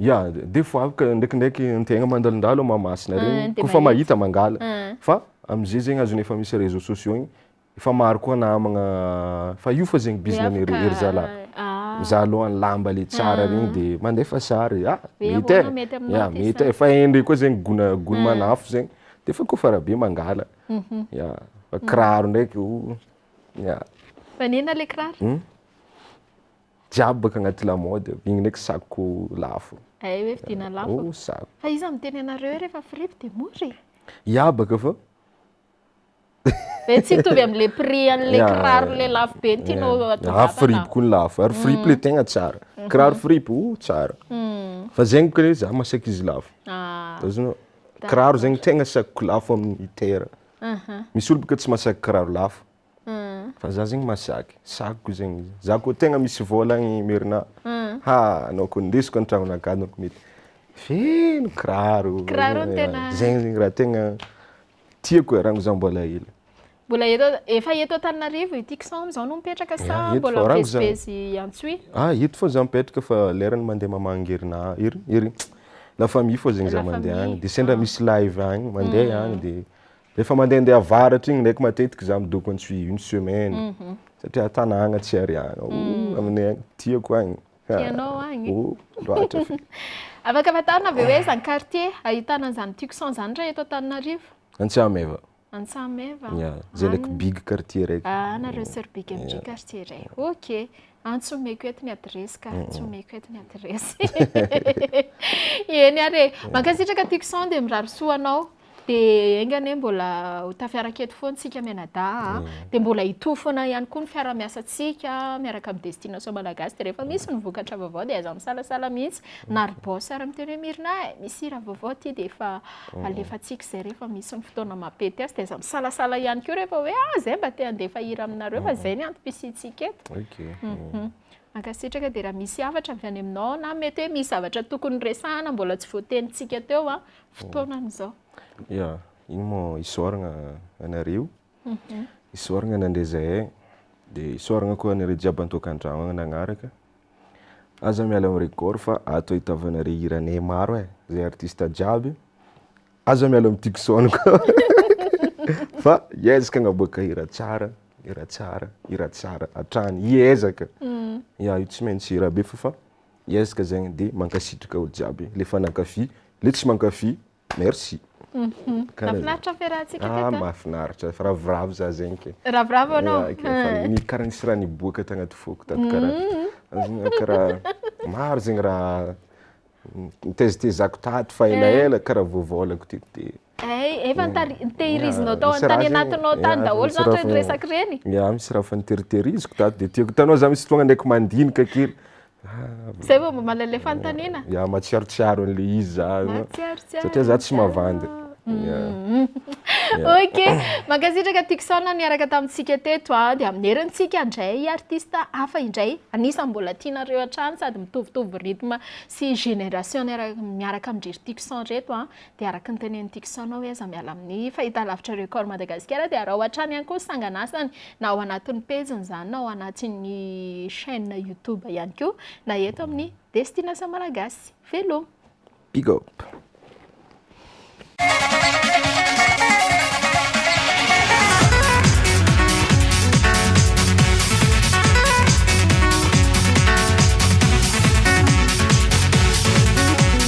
Ya, dia foaroka ndraikindraiky ny tegna mandalondalo amin'ny Mahamasina Ah, regny, tena kôfa mahita izy. mangala. Ah. Fa am'zay zegny azon'ny efa misy réseaux sociaux igny, efa maro koa namagna, fa io fa zegny bizina an'i ry ry zalahy. Ah. Za alôha ny lamba le tsara regny de mandefa sary, ah Ve mety ahoana e, mety aminao ya ty mety sa? e, fa indray koa zegny gona gony manafo zegny, de fa kôfa rabe mangala, ya, fa kiraro ndraiky oh, ya. Fa nena le kiraro? Jiaby baka agnaty lamaody ao, igny ndraiky sacco lafo. Ay hoe vidiana lafo. Oh sacco. Fa iza miteny anareo hoe rehefa fripy dia mora e? Ya baka fa. Ve tsy mitovy amle prix anle kiraro le lafo be ny tianao atao vava. Ah fripy koa ny lafo, ary fripy le tegna tsara. Kiraro fripy oh tsara. Fa zegny baka le za masaky izy lafo. Azonao? Kiraro zegny tegna sacco lafo amin'ny terre. Misy olo baka tsy masaky kiraro lafo. Fa za zegny masaky, sakiko zegny izy. Za koa tegna misy vôla agny Merina, ha anao koa ndesiko an-tragnonà gadona koa mety. Feno kiraro. Kiraro no tena. Zegny zegny raha tegna tiako e, rango za mbola hely. Mbola eto, efa eto Antananarivo ity kisaony izao no mipetraka sa Eto, mbola fa rango za. mivezivezy Antsohihy? Ah, eto fao za mipetraka fa lerany mandeha mamangy herinà, hery, hery, la famille fao zegny za La mandeha famille, agny. Dia sendra ah. misy live agny, mandeha agny dia Efa mandehandeha avaratra igny ndraiky matetiky za midoko any suis une semaine mhm. satria tanàgna tsy ary agny oh, mm. aminay agny tiako agny tianao agny oh, loatra afaka fantarina ve hoe zany quartier ahitana an'izany tixon zany raha eto antananarivo antsameva antsameva zay ndraiky big quartier raiky ah nareo sir big mg quartier ray ok An tsy omeko eto ny adiresy ka, tsy omeko eto ny adiresy. Eny ary e. Mankasitraka Tucson dia mirary soa anao. Dia enga anie mbola ho tafiaraka eto foana isika mianadahy an. Dia mbola hitohy foana ihany koa ny fiaraha-miasantsika miaraka amin'ny Destination Malagasy. Dia rehefa misy ny vokatra vaovao dia aiza misalasala mihitsy na ry Boss ary miteny hoe Mirina e, misy hira vaovao aty dia efa. alefantsika izay rehefa misy ny fotoana mampety azy dia aza misalasala ihany koa rehefa hoe ah izay mba te handefa hira aminareo fa izay ny antom-pisiantsika eto. Mhm. Mankasitraka dia raha misy hafatra avy any aminao na mety hoe misy zavatra tokony resahana mbola tsy voatenintsika teo an, fotoanan'izao. Ya, iny moa isaoragna anareo. isaoragna nandre zahay, dia isaoragna koa anareo jiaby antokandrano agny nagnaraka, aza miala am regord fa ato ahitavanareo hiranay maro e, zay artiste jiaby aza miala am Tucson koa fa hiezaka agnaboaka hira tsara, hira tsara, hira tsara hatrany, hiezaka, ya io tsy maintsy hira be f'efa hiezaka zegny, dia mankasitraka olo jiaby le efa nankafy, le tsy mankafy. Merci. Mahafinaritra ny fiarahantsika teto a. Ah mahafinaritra, efa ravoravo za zegny ke. Ravoravo anao. Efa karaha nisy raha niboaka tagnaty foko tato karaha. Karaha maro zegny raha nitezitezako tato fa elaela karaha voavôlako ty de. Hay, efa nitahirizinao tao tany anatinao tany daholo zany reny resaka reny. Ia, misy raha efa niteriteriziko tato de tiako hitanao za misy fotoagna ndraiky mandinika kely. Zay vao mba mahalala ilay fanontaniana? Ya, matsiarotsiaro an'ilay izy za. Matsiarotsiaro. Satria za tsy mavandy. Mm. Ok, mankasitraka Tucson niaraka tamintsika teto a, dia amin'ny heriny tsika handray artiste hafa indray, anisan'ny mbola tianareo hatrany sady mitovitovy rythme sy génération niaraka miaraka amin-dry Tucson reto a, Dia araka ny tenenin'i Tickson aho hoe aza miala amin'ny fahitalavitra Record Madagasikara dia araho hatrany ihany koa ny sanganasany na ao anatin'ny pejiny izany na ao anatin'ny chaîne YouTube ihany koa na eto amin'ny Destination Malagasy. Veloma! Big up!